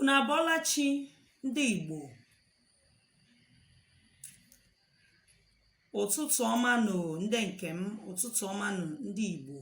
ụnụ abọla chi ndị Igbo ụtụtụ ọma nụ ndị nke m ụtụtụ ọma nụ ndị Igbo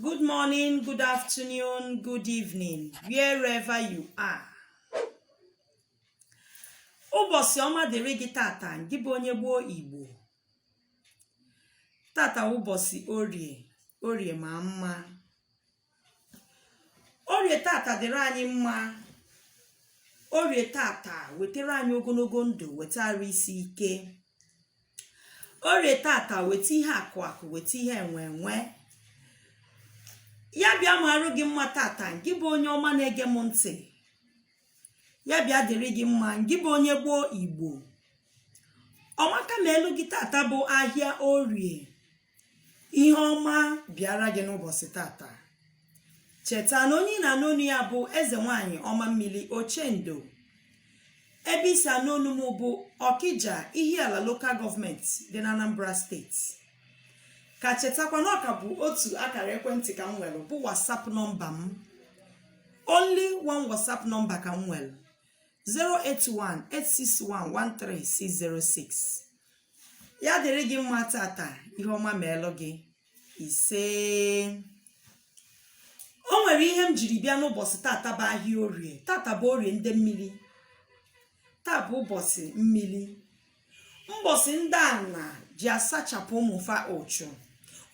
good morning good afternoon good evening wherever you are ụbọsị ọma dịrị gị tata ngị bụ onye gboo Igbo tata ụbọsị orie orie ma mma orie tata dịrị anyị mma orie tata wetara anyị ogonogo ndụ weta arụ isi ike orie tata weta ihe akụ akụ weta ihe enwe enwe ya bịa ma arụ gị mma tata ngị bụ onye ọma na-ege m ntị ya bịa dịrị gị mma ngị bụ onye gboo igbo ọmaka meelụ gị tata bụ ahịa orie ihe ọma bịara gị n'ụbọsị tata cheta na onye ị na-anụ onu ya bụ eze nwanyị ọma mmiri ochendo ebe i si anụ onu m bụ ọkija ihiala local government dị na anambra steeti ka chetakwa na ọ ka bụ otu akara ekwentị ka m nwere bụ whatsapp nọmba m only one whatsapp nọmba ka m nwere 08186113606 ya dịrị gị mma tata ihe ọma meelụ gị isee o nwere ihe m jiri bịa n'ụbọsị tata bụ ahịa orie tata bụ orie ndị mmiri taa bụ ụbọsị mmiri mbọsị ndị ana ji asachapụ ụmụ fa ụchụ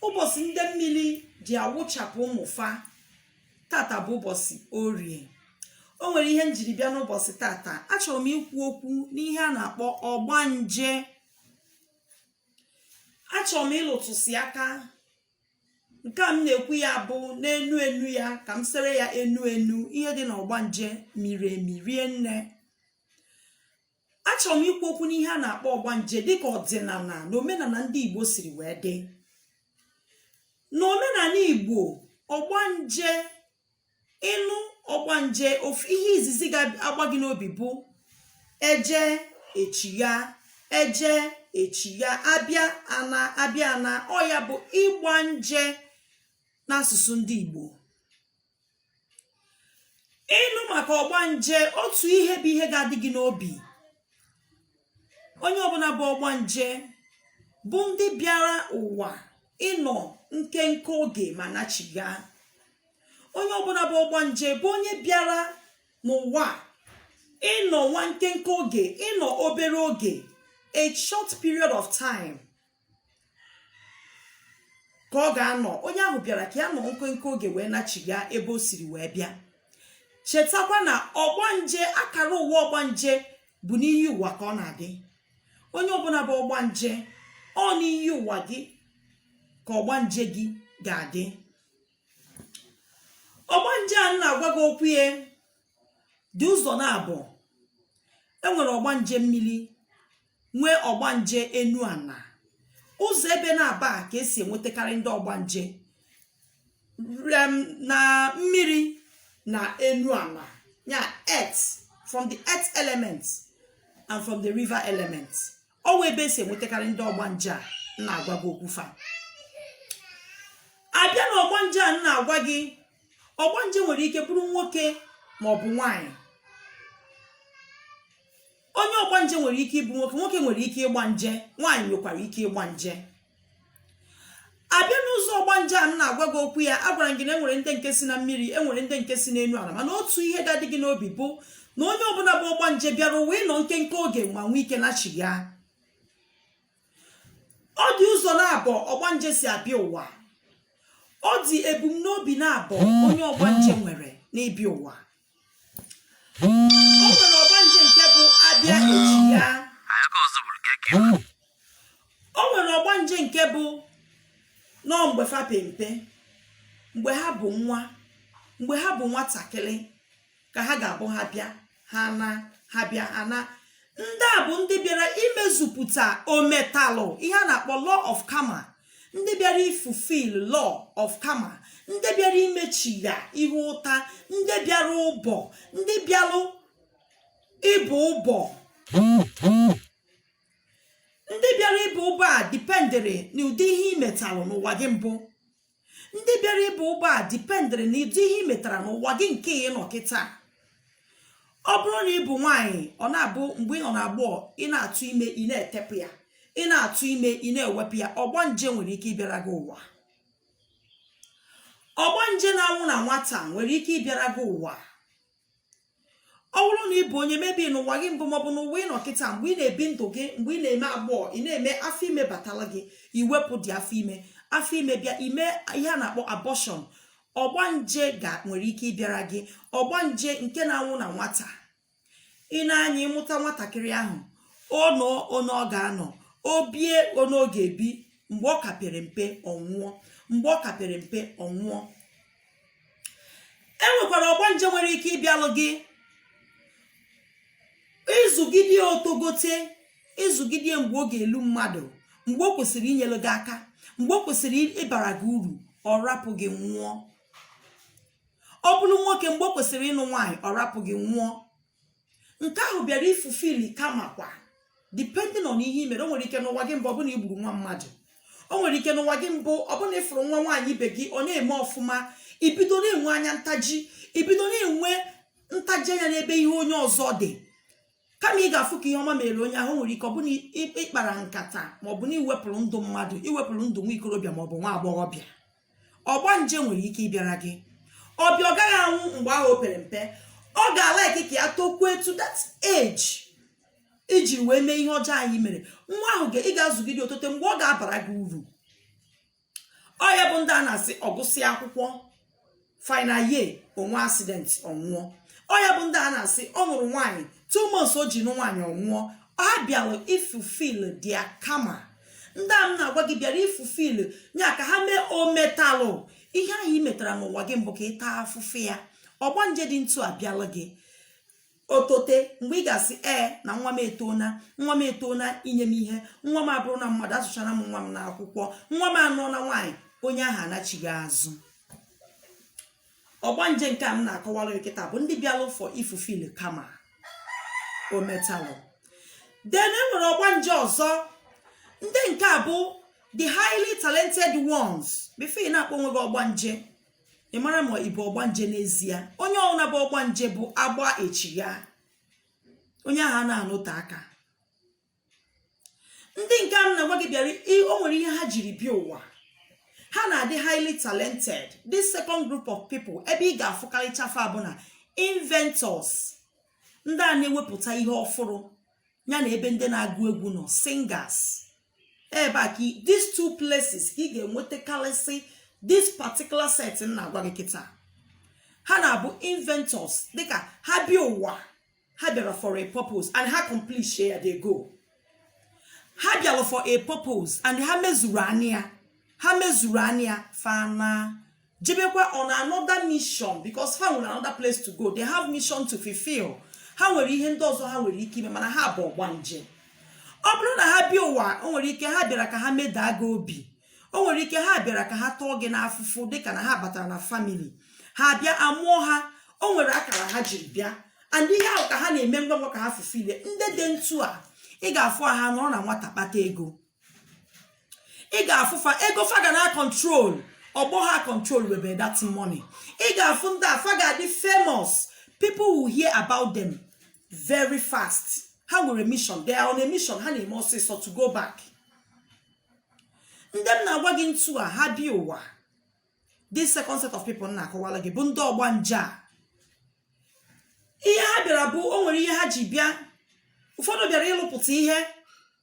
ụbọsị ndị mmiri ji awụchapụ ụmụ fa tata bụ ụbọsị orie o nwere ihe m jiri bịa n'ụbọsị tata achọrọ m ikwu okwu n'ihe a na-akpọ ọgbanje achọrọ m ịlụtụsị aka nke a m na-ekwu ya bụ n'enu enu ya ka m sere ya enu enu ihe dị n'ọgbanje miri emi rie nne achọrọ m ikwu okwu n'ihe a na-akpọ ọgbanje dịka ọdịnana na omenana ndị igbo siri wee dị na omenana igbo ọgbanje ị nụ ọgbanje ofu ihe izizi ga-agba gị n'obi bụ eje echigha eje echigha abịa ana abịa ana ọ ya bụ ịgba nje n'asụsụ ndị igbo ị nụ maka ọgbanje otu ihe bụ ihe ga-adị gị n'obi onye ọbụna bụ ọgbanje bụ ndị bịara ụwa ịnọ nkenke oge ma nachiga onye ọbụna bụ ọgbanje bụ onye bịara n'ụwa ịnọ nwa nkenke oge ịnọ obere oge a short period of time ka ọ ga-anọ onye ahụ bịara ka ya nọ nkenke oge wee nachiga ebe o siri wee bịa chetakwa na ọgbanje akara ụwa ọgbanje bụ n'iyi ụwa ka ọ na-adị onye ọbụna bụ ọgbanje ọ n'iyi ụwa gị ka ọgbanje gị ga-adị ọgbanje a na-agwa gị okwu ya dị ụzọ naabọ enwere ọgbanje mmiri nwee ọgbanje enu ana ụzọ ebe naabọ a ka esi enwetakarị ndị ọgbanje from na mmiri na enu ana ya earth from the earth element and from the river element ọ nwa ebe esi enwetakarị ndị ọgbanje a na-agwa gị okwu fa abịa na ọgbanje a na-agwa gị ọgbanje nwere ike bụrụ nwoke ma ọ bụ nwaanyị onye ọgbanje nwere ike ịbụ nwoke nwoke nwere ike ịgba nje nwaanyị nwekwara ike ịgba nje abịa n'ụzọ ọgbanje a na-agwa gị okwu ya agwara m gị na enwere ndị nke si na mmiri enwere ndị nke si n'enu ala mana otu ihe ga-adị gị n'obi bụ na onye ọbụna bụ ọgbanje bịara ụwa ịnọ nkenke oge ma nwee ike nachiga ọ dị ụzọ naabọ ọgbanje si abịa ụwa ọ dị ebumnobi naabọ onye ọgbanje nwere n'ịbịa ụwa o nwere ọgbanje nke bụ abịa echiga o nwere ọgbanje nke bụ na ọ mgbe fa pe mpe mgbe ha bụ nwa mgbe ha bụ nwatakịrị ka ha ga-abụ ha bịa ha naa ha bịa ha naa ndị a bụ ndị bịara imezupụta ometalụ ihe a na-akpọ law of karma ndị bịara ifulfil law of karma ndị bịara imechiga ihe ụta ndị bịara ọbọ ndị bịara ịbọ ọbọ ndị bịara ịbọ ọbọ a dependịrị n'ụdị ihe i metalụ n'ụwa gị mbụ ndị bịara ịbọ ọbọ a dependịrị n'ụdị ihe i metara n'ụwa gị nke ị nọ kịta ọ bụrụ na ị bụ nwaanyị ọ na-abụ mgbe ị nọ na agbọọ ị na-atụ ime ị na-etepụ ya ị na-atụ ime ị na-ewepụ ya ọgbanje nwere ike ịbịara gị ụwa ọgbanje na-anwụ na nwata nwere ike ịbịara gị ụwa ọ bụrụ na ị bụ onye mebi n'ụwa gị mbụ maọbụ n'ụwa ị nọ kịta mgbe ị na-ebi ndụ gị mgbe ị na-eme agbọọ ị na-eme afọ ime batala gị i wepụdị afọ ime afọ ime bịa i mee ihe a na-akpọ abọshọn ọgbanje ga nwere ike ịbịara gị ọgbanje nke na-anwụ na nwata ị na-anya ị mụta nwatakịrị ahụ ọ nọọ one ọ ga-anọ o bie one ọ ga-ebi mgbe ọ ka pere mpe ọ nwụọ e nwekwara ọgbanje nwere ike ịbịalụ gị ị zụgide ya o togote ị zụgide ya mgbe ọ ga-elu mmadụ mgbe o kwesịrị inyere gị aka mgbe o kwesịrị ịbara gị uru ọ rapụ gị nwụọ ọ bụrụ nwoke mgbe o kwesịrị ịnụ nwaanyị ọ rapụ gị nwụọ nke ahụ bịara ifulfill karma kwa depending on ihe i mere o nwere ike n'ụwa gị mbụ ọ bụ na i gburu nwa mmadụ o nwere ike n'ụwa gị mbụ ọ bụ na ị fụrụ nwa nwaanyị ibe gị ọ na-eme ọfụma i bido na-enwe anya ntaji i bido na-enwe ntaji anya n'ebe ihe onye ọzọ dị kama ị ga-afụ ka ihe ọma mere onye ahụ nwere ike ọ bụ na ị kpara nkata maọbụ na i wepụrụ ndụ mmadụ i wepụrụ ndụ nwa ikorobịa maọbụ nwa agbọghọbịa ọgbanje nwere ike ịbịara gị ọ bịa ọ gaghị anwụ mgbe ahụ o pere mpe ọ ga-alike ka ya tokwuo to that age i ji wee mee ihe ọjọọ ahụ i mere nwa ahụ ga- ị ga-azụgide o tote mgbe ọ ga-abara gị uru ọ ya bụ ndị a na-asị ọ gụsịa akwụkwọ final year o nwee accident ọ nwụọ ọ ya bụ ndị a na-asị ọ nụrụ nwaanyị two months o ji nụ nwaanyị ọ nwụọ ọ bịara ifulfill their karma ndị a m na-agwa gị bịara ifulfill your karma ometalụ ihe ahụ ị metara n'ụwa gị mbụ ka ị taa afụfụ ya ọgbanje dị etu a bịala gị o tote mgbe ị ga-asị ee na nwa m etona nwa m etona inye m ihe nwa m abụrụna mmadụ azụchaana m nwa m n'akwụkwọ nwa m anụọna nwaanyị onye ahụ anachigha azụ ọgbanje nke a m na-akọwara kịta bụ ndị bịara ụfọ ifulfill karma ometalụ then e nwere ọgbanje ọzọ ndị nke a bụ the highly talented ones before ị na-akpọ onwe gị ọgbanje ị mara ma ị bụ ọgbanje n'ezie onye ọbụla bụ ọgbanje bụ agba echi ya onye ahụ a na-anọte aka ndị nke a m na-agwa gị bịara o nwere ihe ha jiri bịa ụwa ha na-adị highly talented this second group of people ebe ị ga-afụkarịcha fa bụ na inventors ndị a na-ewepụta ihe ọfụrụ ya na ebe ndị na-agụ egwu nọ singers ebe a ka these two places ka ị ga-enwetakarịsị this particular set m na-agwa gị kịta ha na-abụ inventors dịka ha bịa ụwa ha bịara for a purpose and ha accomplish ya they go ha bịara for a purpose and ha mezuru anị ya ha mezuru anị ya fa ana jebekwa on another mission because ha nwere another place to go they have mission to fulfill ha nwere ihe ndị ọzọ ha nwere ike ime mana ha bụ ọgbanje ọ bụrụ na ha bịa ụwa o nwere ike ha bịara ka ha medaa gị obi o nwere ike ha bịara ka ha tọọ gị n'afụfụ dịka na ha batara na family ha bịa amụọ ha o nwere akara ha jiri bịa and ihe ahụ ka ha na-eme ngwa ngwa ka ha fulfill ndị dị ntu a ị ga-afụ ha nọrọ na nwata kpata ego ị ga-afụ fa ego fa ga na control ọgbọ ha control webe that money ị ga-afụ ndị a fa ga-adị famous people will hear about them very fast ha nwere mission they are on a mission ha na-eme ọsịsọ to go back ndị m na-agwa gị ntu a ha bịa ụwa this second set of people m na-akọwara gị bụ ndị ọgbanje a ihe ha bịara bụ o nwere ihe ha ji bịa ụfọdụ bịara ịlụpụta ihe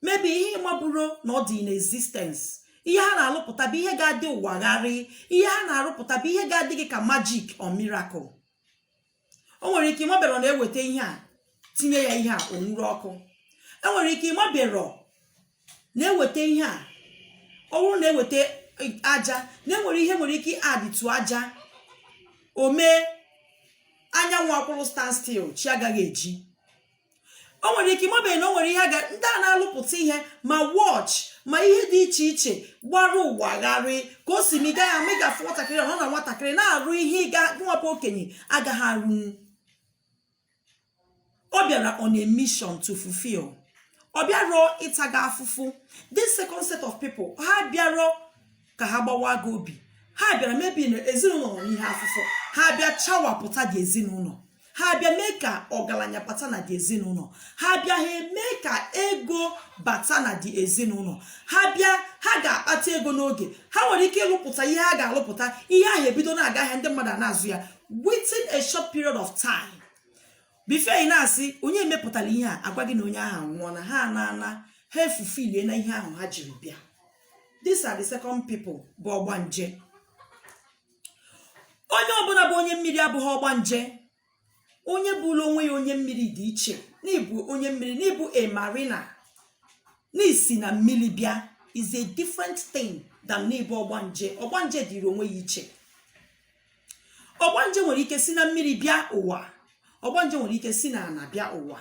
maybe ihe ị maburo na ọ dị in existence ihe ha na-alụpụta bụ ihe ga-adị ụwa gharị ihe ha na-arụpụta bụ ihe ga-adị gị ka magic or miracle o nwere ike ị maberọ na e weta ihe a tinye ya ihe a o nwuru ọkụ e nwere ike ị maberọ na e weta ihe a ọ bụrụ na e weta aja na e nwere ihe nwere ike adịtụ aja o mee anyanwụ akwụrụ stand still chi agaghị eji o nwere ike ị mabeghị na o nwere ihe ga ndị a na-alụpụta ihe ma watch ma ihe dị iche iche gbara ụwa gharị ka o si mee ị gaghị ama ị ga-afụ nwatakịrị ọ nọ na nwatakịrị na-arụ ihe ị ga nwapụ okenye agaghị arụ ọ bịara on a mission to fulfill ọ bịarọ ịta gị afụfụ this second set of people ha bịarọ ka ha gbawa gị obi ha bịara maybe na ezinụlọ nọ n'ihe afụfụ ha bịa chawapụta the ezinụlọ ha bịa mee ka ọgaranya bata na the ezinụlọ ha bịa ha mee ka ego bata na the ezinụlọ ha bịa ha ga-akpata ego n'oge ha nwere ike ịlụpụta ihe ha ga-alụpụta ihe ahụ ebido na-aga ahịa ndị mmadụ na-azụ ya within a short period of time before ị na-asị onye mepụtara ihe a a gwa gị na onye ahụ anwụọna ha na-ana ha efulfilliena ihe ahụ ha jiri bịa these are the second people bụ ọgbanje onye ọbụla bụ onye mmiri abụghị ọgbanje onye bụrụ onwe ya onye mmiri dị iche n'ịbụ onye mmiri n'ịbụ a marina n'isi na mmiri bịa is a different thing than n'ịbụ ọgbanje ọgbanje dịrị onwe ya iche ọgbanje nwere ike si na mmiri bịa ụwa ọgbanje nwere ike si na ala bịa ụwa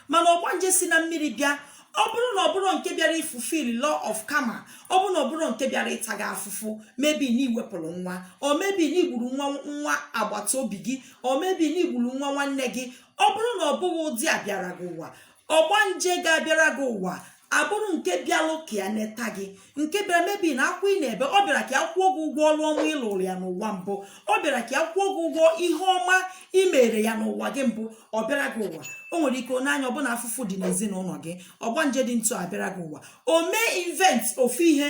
mana ọgbanje si na mmiri bịa ọ bụrụ na ọ bụrụ nke bịara ịfulfill law of karma ọ bụrụ na ọ bụrụ nke bịara ịta gị afụfụ maybe na i wepụrụ nwa or maybe na i gburu nwa nwa agbata obi gị or maybe na i gburu nwa nwanne gị ọ bụrụ na ọ bụghị ụdị a bịara gị ụwa ọgbanje ga-abịara gị ụwa abụrụ nke bịalụ ka ya neta gị nke bịara maybe na akwa ị na-ebe ọ bịara ka ya kwụọ gị ụgwọ ọlụ ọma ị lụlụ ya n'ụwa mbụ ọ bịara ka ya kwụọ gị ụgwọ ihe ọma ị mere ya n'ụwa gị mbụ ọ bịara gị ụwa o nwere ike n'anya ọ bụ na afụfụ dị n'ezinụlọ gị ọgbanje dị ntu a bịara gị ụwa o mee invent ofu ihe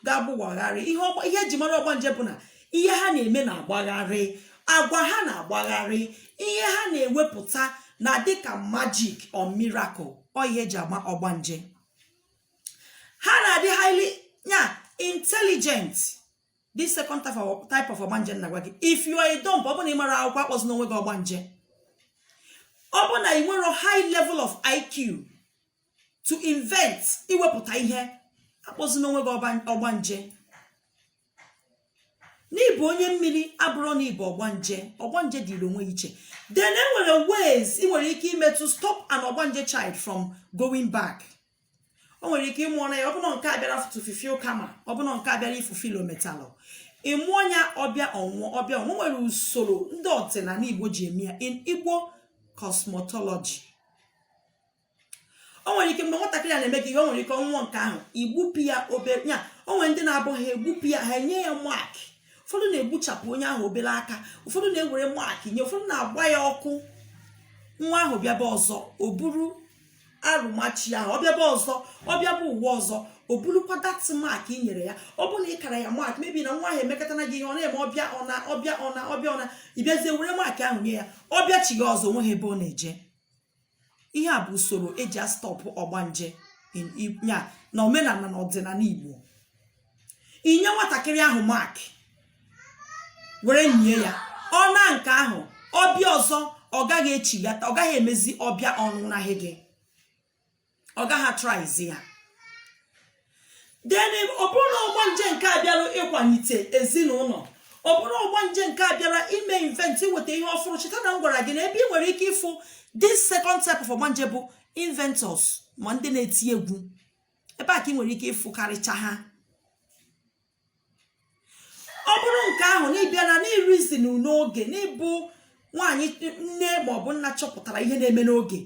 ga-abụ wagharị ihe ọgba- ihe e ji mara ọgbanje bụ na ihe ha na-eme na-agbagharị agwa ha na-agbagharị ihe ha na-ewepụta na-adị ka magic or miracle ọ ihe e ji ama ọgbanje ha na-adị highly ya intelligent this second type of, type of ọgbanje m na-agwa gị if you are a dumb ọ bụ na ị marọ akwụkwọ akpọzina onwe gị ọgbanje ọ bụ na ị nwerọ high level of IQ to invent iwepụta ihe akpọzina onwe gị ọba- ọgbanje na ị bụ onye mmiri abụrọ na ị bụ ọgbanje ọgbanje dịrị onwe ya iche then e nwere ways ị nwere ike ime to stop an ọgbanje child from going back o nwere ike ị mụọ na ya ọ bụ na nke a bịara to fulfill karma ọ bụ na nke a bịara ịfulfill ometalụ ị mụọ ya ọ bịa ọ nwụọ ọ bịa ọ nwụọ nwere usoro ndị ọdịnala igbo ji eme ya in igbo cosmetology o nwere ike mgbe nwatakịrị a na-eme gị ihe o nwere ike ọ nwụọ nke ahụ i gbupụ ya obere ya o nwere ndị na-abụ ha egbupụ ya ha enye ya mark ụfọdụ na-egbuchapụ onye ahụ obere aka ụfọdụ na-ewere mark nye ụfọdụ na-agba ya ọkụ nwa ahụ bịaba ọzọ o buru arụmachi ahụ ọ bịaba ọzọ ọ bịaba ụwa ọzọ o burukwa that mark i nyere ya ọ bụ na ị kara ya mark maybe na nwa ahụ emekọtana gị ihe ọ na-eme ọ bịa ọ naa ọ bịa ọ naa ọ bịa ọ naa ị bịazie were mark ahụ nye ya ọ bịachigha ọzọ o nweghị ebe ọ na-eje ihe a bụ usoro e ji astop ọgbanje ya na omenala na ọdịnala igbo inye nwatakịrị ahụ mark were nye ya ọ naa nke ahụ ọ bịa ọzọ ọ gaghị echighata ọ gaghị emezi ọ bịa ọ nwụnahị gị ọ gaghị atryzi ya then ọ bụrụ na ọgbanje nke a bịara ịkwalite ezinụlọ ọ bụrụ ọgbanje nke a bịara ime invent iweta ihe ọfụrụ cheta na m gwara gị na ebe ị nwere ike ịfụ this second type of ọgbanje bụ inventors ma ndị na-eti egwu ebe a ka ị nwere ike ịfụ karịcha ha ọ bụrụ nke ahụ na ị bịa na n'irizi n'oge na ị bụ nwaanyị nne ma ọ bụ nna chọpụtara ihe na-eme n'oge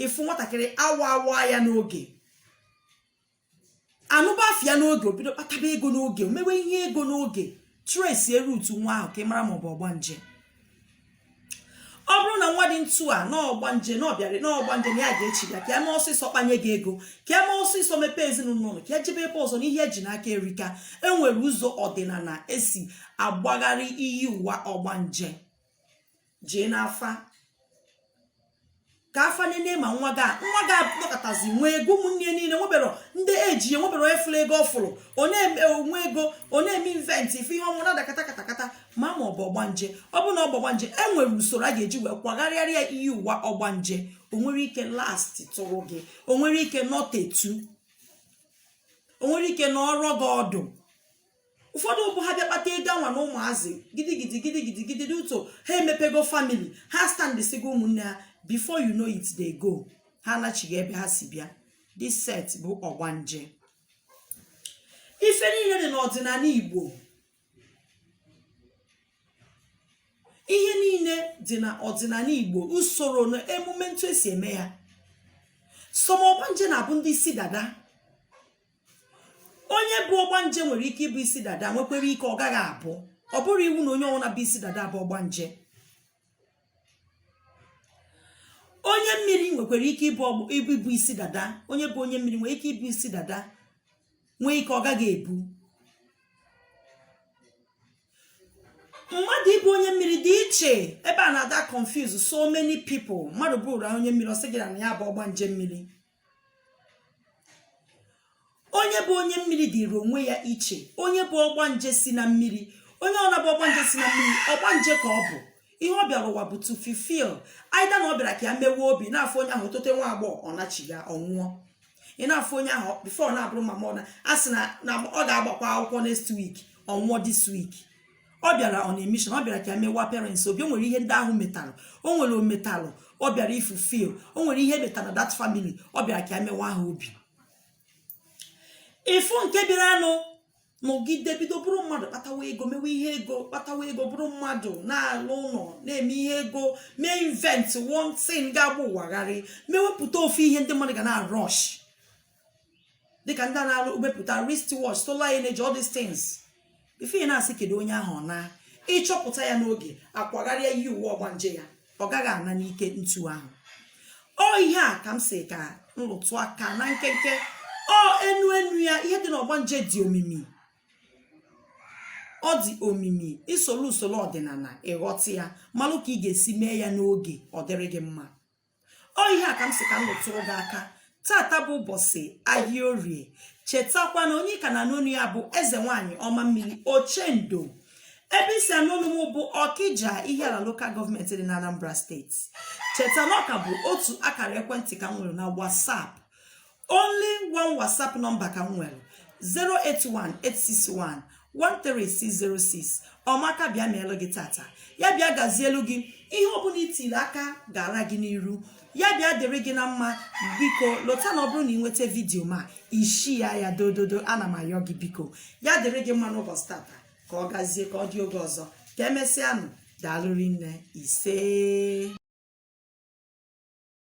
ị fụ nwatakịrị awa awa ya n'oge anụba afịa n'oge o bido kpataba ego n'oge mewe ihe ego n'oge trace root nwa ahụ ka ị mara ma ọ bụ ọgbanje ọ bụrụ na nwa dị ntu a n'ọgbanje na ọ bịara n'ọgbanje na ya ga-echi ya ka ya mee ọsịsọ kpanye gị ego ka ya mee ọsịsọ mepee ezinụlọ ka ya jebe ebe ọzọ na ihe e ji n'aka erika e nwere ụzọ ọdịnala e si akwagharị iyi ụwa ọgbanje jee n'afa ka afa nene ma nwa ga nwa ga nọkatazi nwee ego ụmụnne ya niile nwebere ndị eji ya nwebere onye fụrụ ego ọ fụrụ ọ na-eme onwe ego ọ na-eme invent ife ihe ọnwụ na-ada kata kata kata ma ma ọ bụ ọgbanje ọ bụ na ọ bụ ọgbanje e nwere usoro a ga-eji wee kwagharịara ya iyi ụwa ọgbanje o nwere ike last tụrụ gị o nwere ike nọtetu o nwere ike nọrọ gị ọdụ ụfọdụ bụ ha bịa kpata ego anwa na ụmụazị gidigidi gidigidi gidigidi ụtọ ha emepego family ha standisigo ụmụnne ha before you know it dey go ha anachiga ebe ha si bịa this set bụ ọgbanje ife niile dị n'ọdịnala igbo ihe niile dị na ọdịnala igbo usoro na emume ntu e si eme ya some ọgbanje na-abụ ndị isi dada onye bụ ọgbanje nwere ike ịbụ isi dada nwekwere ike ọ gaghị abụ ọ bụrọ iwu na onye ọbụla bụ isi dada bụ ọgbanje onye mmiri nwekwara ike ịbụ isi dada onye bụ onye mmiri nwere ike ịbụ isi dada nwee ike ọ gaghị abụ mmadụ ịbụ onye mmiri dị iche ebe a na-ada confuse so many people mmadụ bụrụ onye mmiri ọ sị gị na ya bụ ọgbanje mmiri onye bụ onye mmiri dịrị onwe ya iche onye bụ ọgbanje si na mmiri onye na-abụ ọgbanje si na mmiri ọgbanje ka ọ bụ ihe ọ bịara ụwa bụ to fulfill either na ọ bịara ka ya mewe obi na-afụ onye ahụ o tote nwa agbọghọ ọ nachiga ọ nwụọ ị na-afụ onye ahụ before na-abụrụ mmadụ ọ naa a sị na na ọ ga-agbakwa akwụkwọ next week ọ nwụọ this week ọ bịara on a mission ọ bịara ka mewa parents obi o nwere ihe ndị ahụ metalụ o nwere o metalụ ọ bịara ịfulfill o nwere ihe metara na that family ọ bịara ka mewa ha obi ịfụ nke bịaranụ nọgide bido bụrụ mmadụ kpatawa ego mewe ihe ego kpatawa ego bụrụ mmadụ na-alụ ụlọ na-eme ihe ego mee invent one thing ga-agba ụwa gharị mewepụta ofu ihe ndị mmadụ ga na-arush dịka ndị na-arụ wepụta wrist watch solar energy all these things ife ị na-asị kedu onye ahụ ọ naa ị chọpụta ya n'oge a kwagharịa iyi ụwa ọgbanje ya ọ gaghị ana n'ike ntu ahụ ọ ihe a ka m sị ka nrụtụ aka na nkenke ọ enu enu ya ihe dị n'ọgbanje dị omimi ọ dị omimi i soro usoro ọdịnala ị ghọta ya malụ ka ị ga-esi mee ya n'oge ọ dịrị gị mma ọ ihe a ka m sị ka m lụtụrụ gị aka taata bụ ụbọsị ahịa orie chetakwa na onye ka na-anụ onu ya bụ eze nwaanyị ọma mmiri ochendo ebe i si anụ onu m bụ ọkịja ihiala lokal gọọmenti dị na anambra steeti cheta na ọ ka bụ otu akara ekwentị ka m nwere na whatsapp only one whatsapp nọmba ka m nwere 08186113606 ọmaka bịa meelụ gị taata ya bịa gazielu gị ihe ọbụla i tiri aka gaara gị n'iru ya bịa dịrị gị na mma biko lota na ọ bụrụ na i nweta vidiyo m a i share ya dododo ana m ayọ gị biko ya dịrị gị mma n'ụbọsị taata ka ọ gazie ka ọ dị oge ọzọ ka e mesịanụ daalụ rinne isee